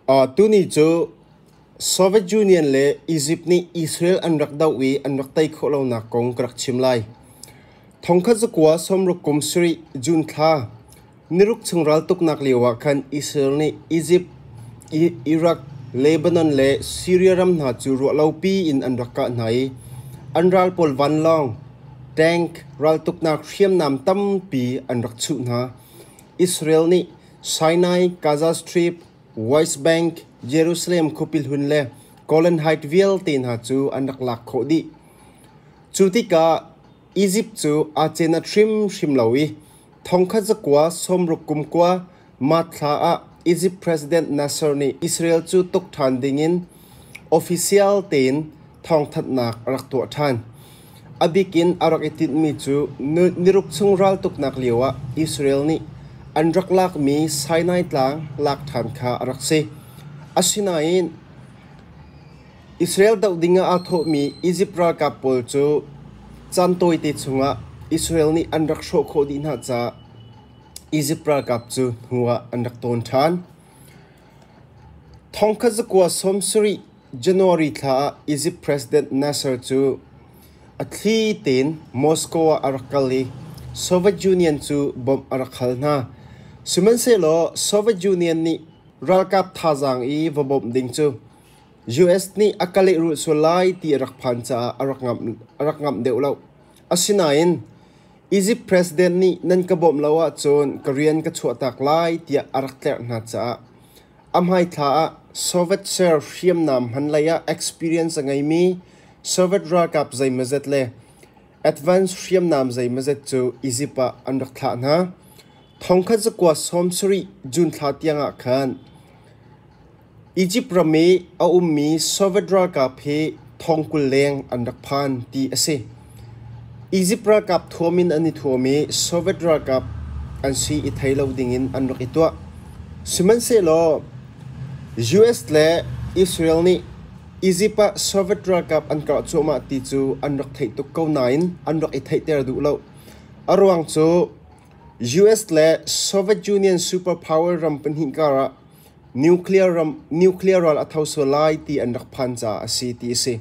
Tuni cu Soviet Union le Egypt nih Israel an rak doh i an rak tei khawh lonak kong ka rak chim lai. Thongkhat zakua sawmruk kum sarih June thla, niruk chung raltuknak lioah khan Israel nih Egypt, Iraq, Lebanon le Syria ram hna cu ruahlopi in an rak kah hna i an ral pawl vanlawng, tank raltuknak hriamnam tampi an rak chuh hna. Israel nih Sinai, Gaza Strip, West Bank, Jerusalem khuapi hlun le Golan Heights vialte hna cu an rak lak khawh dih. Cu tikah Izipt cu aa cen a hrimhrim lo i thongkhat zakua sawmruk kum kua Mart thla ah Izipt President Nasser nih Israel cu tuk ṭhan dingin official tein thawngthanhnak a rak tuah ṭhan. A bik in a rak i tinhmi cu niruk chung raltuknak lioah Israel nih an rak lakmi Sinai Tlang lak ṭhan kha a rak si. Asinain Israel doh dingah aa thawhmi Izipt ralkap pawl cu caan tawite chungah Israel nih an rak hrawh khawh dih hna caah Izipt ralkap cu hnuah an rak tawn ṭhan. Thongkhat zakua sawm sarih January thla ah Izipt President Nasser cu a thli tein Moscow ah a rak kal i Soviet Union cu bawmh a rak hal hna. Sihmanhsehlaw Soviet Union nih ralkap thazaang i va bawmh ding cu US nih a ka lehrulh sual lai ti a rak phan caah a rak ngamh deuh lo. Asinain Izipt president nih nan ka bawmh lo ahcun ka rian ka chuahtak lai tiah a rak tlerh hna caah a hmaithla ah Soviet ser hriamnam hman lei ah experience a ngeimi Soviet ralkap zeimazet le advance hriamnam zeimazet cu Izipt ah an rak thlah hna. Thongkhat zakua sawm sarih June thla tiangah khan Izipt ram i a ummi Sovet ralkap hi thong kul leng an rak phan ti a si. Izipt ralkap thuam in an i thuam i Sovet ralkap an si i thei lo ding in an rak i tuah. Sihmanhsehlaw, US le Israel nih Izipt ah Sovet ralkap an karh cuahmah ti cu an rak theih tuk ko nain an rak i theihter duh lo. A ruang cu US le Soviet Union superpower ram pahnih karah Nuclear ral a tho sual lai ti an rak phan caah a si ti a si.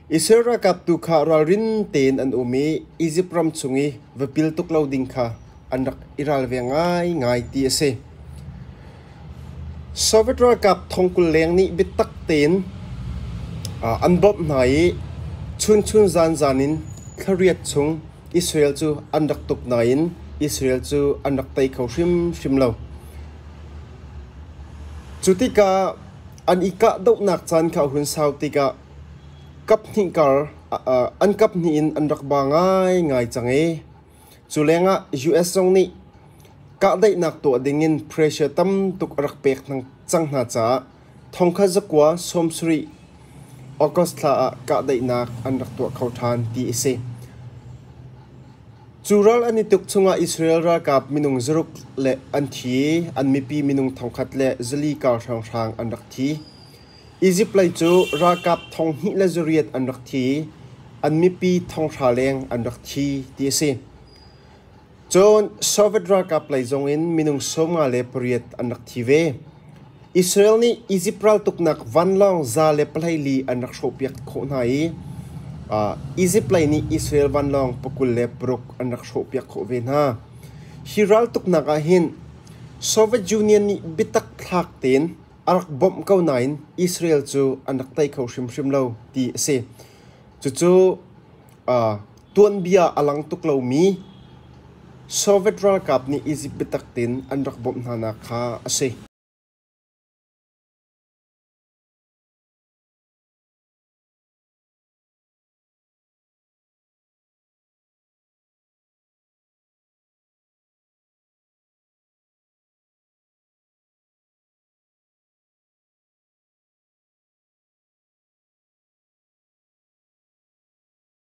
Israel ralkap tu kha ralrin tein an um i Izipt ram chung i va pil tuk lo ding kha an rak i ralve ngaingai ti a si. Soviet ralkap thong kul leng nih biatak tein an bawmh hna i chunchun zanzan in thla riat chung Israel cu an rak tuk nain Israel cu an rak tei kho hrimhrim lo. Cu tikah an i kahdohnak caan kha a hun sau tikah kaphnih kar an kaphnih in an rak ba ngaingai cang i culengah US zong nih kahdaihnak tuah dingin pressure tam tuk a rak pek cang hna caah Thongkhat zakua sawmsarih August thla ah kahdaihnak an rak tuah kho ṭhan ti a si. Cu ral an i tuk chungah Israel ralkap minung zaruk le an thi i an mipi minung thongkhat le zali kar hranghrang an rak thi. Izipt lei cu ralkap thong hnih le zariat an rak thi i an mipi thonghra leng an rak thi, ti a si. Cun Soviet ralkap lei zongin minung sawmnga le pariat an rak thi ve. Israel nih Izipt raltuknak vanlawng za le pahlei li an rak hrawhpiak khawh hna i Izipt lei nih Israel vanlawng pakul le paruk an rak hrawhpiak khawh ve hna. Hi raltuknak ah hin Soviet Union nih biatak thlak tein a rak bawmh ko nain Israel cu an rak tei kho hrimhrim lo ti a si. Cucu Tuanbia a lang tuk lomi Soviet ralkap nih Izipt biatak tein an rak bawmh hnanak kha a si.